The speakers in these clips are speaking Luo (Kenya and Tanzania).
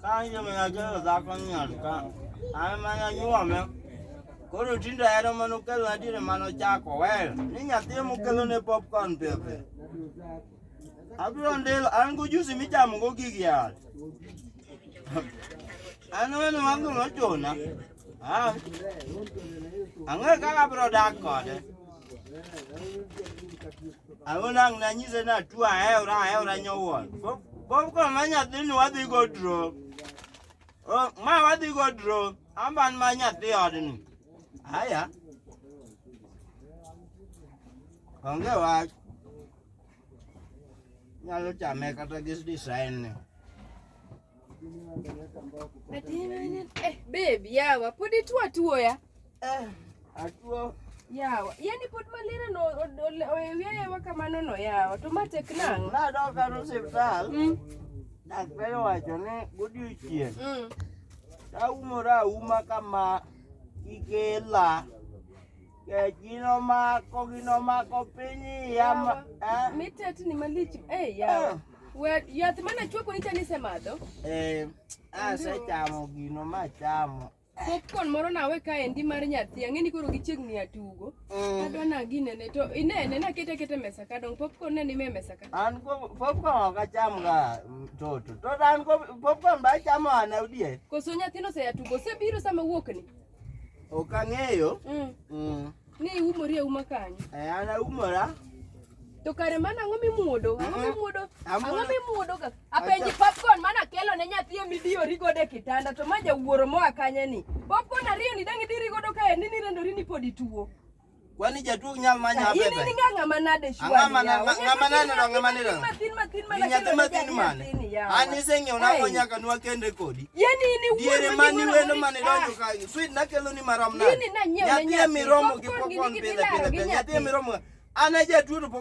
Kanje mena jero zakon nyarka. Ame mana nyuome. Koro tindo ero mano kelo adire mano chako wer. Ni nyathi mokelo ne popcorn pepe. Abiro ndelo an go juice michamo go gigi yath. An weno wango nochuna. Ah. Ang'e kaka bro dak kode. Awona ang' nanyise ni atuo aewra aewra nyowuon. Bob koro ma nyathini wadhi go dro. Oh, ma wadhi go dro. Amban ma nyathi odni. Aya. Onge wach. Nyalo chame kata gi design ni. Eh, babe, yawa pod ituo atuoya ya. Eh, atuo yawa yani pod malira no oyeweyewa kamano no yawa to ma tek nang'o nadoka no siptal mm. daktari owacho ni godiochieng' mm. taumora auma kama ikela Ginomako, ginomako piny yama. Eh? Mitet ni malich. Eh, yawa. Eh. We, yath mana chweko nicha nisemadho? Eh, asechamo ah, gino ma chamo. Popcorn moro nawe ka endi mar nyathi, ang'eni koro gichiegni atugo. Mm. Adwa na ginene to inene na kete kete mesa ka dong popcorn ne ni me mesa ka. An ko popcorn ok acham ga mm, toto. To an ko popcorn ba chamo ana udie. Koso nyathino se atugo, se biro sama wuok ni. Ok ang'eyo. Mm. Mm. Ni iumori auma kanyo. Eh, an aumora. To kare mana ang'o mimuodo? Ang'o Mhm. mimuodo? Ang'o Amuodo. mimuodo ga? Apenji Acha- popcorn mana kelo ne nyathi e midiyori godo e kitanda to ma jawuoro moa kanye ni. Popcorn ariyo ni dang' idiri godo kae ni nirendori ni pod ituo. Kwani jatuo nyal ma nya bebe. Ini ninga ngama nade shwa. Ngama na ngama nane ndo ngama nira. Matin matin mana. Nya tema tin mane. Ani sengi ona ko nyaka nwa kende kodi. Yeni ini wuo. Diere mani welo mane donjo ka. Sweet na kelo ni maram na. Yini na nyewe. Nyathi miromo gi popcorn pile pile. Nyathi miromo. Ana jatuo to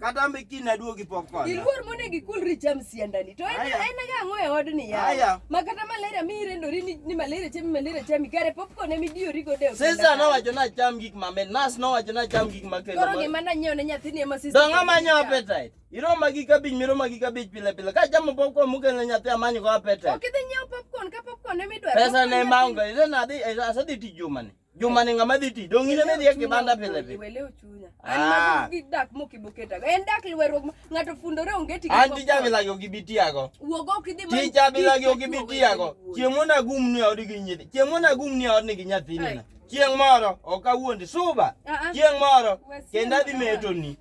Kata ambe kiny naduogi pok kona. Iluor mone gi kulri cham siandani. To en en ga ng'o e odni ya. Aya. Ma kata malaria mi irendori ni, ni malaria chami malaria chami kare popcorn emi diyori go deo. Sisa no wacho na cham gik ma men. Nas no wacho na cham gik ma kendo. Koro gima na nyiew ne nyathini ema sisa. Donga ma nyiew appetite. Iroma gi kabich miroma gi kabich pile pile. Ka chamo popcorn muke ne nyathi amanyo go appetite. Ok idhi nyiew popcorn ka popcorn emi dwaro. Pesa ne maunga. Ire na dhi asadhi tijuma ni. Juma ni ng'ama dhi ti. Dong' in ema idhi e kibanda pile pile. Iwelew chunya. An Ah. mago gi dak mokiboketa. En dak lweruok ma- ng'ato fundore onge tich. An tija bilagi ok ibi tiago. Wuog ok idhi man- Tija bilagi ok ibi Tich tiago. wuoyi. Chieng' mondo agum ni odi gi nyithi. Chieng' mondo agum ni odi gi nyathini. Ai. na. Chieng' moro ok awuondi suba. Ah, ah. Chieng' moro Wasiema kendo adhi kama. metoni.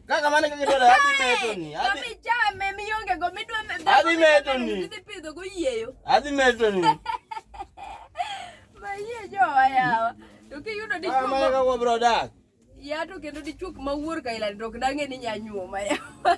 Kaka mane kaka dwaro adhi meto ni. Adhi chame mionge go midwa meto. Adhi meto ni. Adhi pidho go yieyo. Adhi meto ni. Mayie jowa yawa. To kiyudo dichuo. Ah, mane kaka bro dak. Ya to kendo dichuo ma wuor ka ila dok dange ni nyanyuo ma yawa.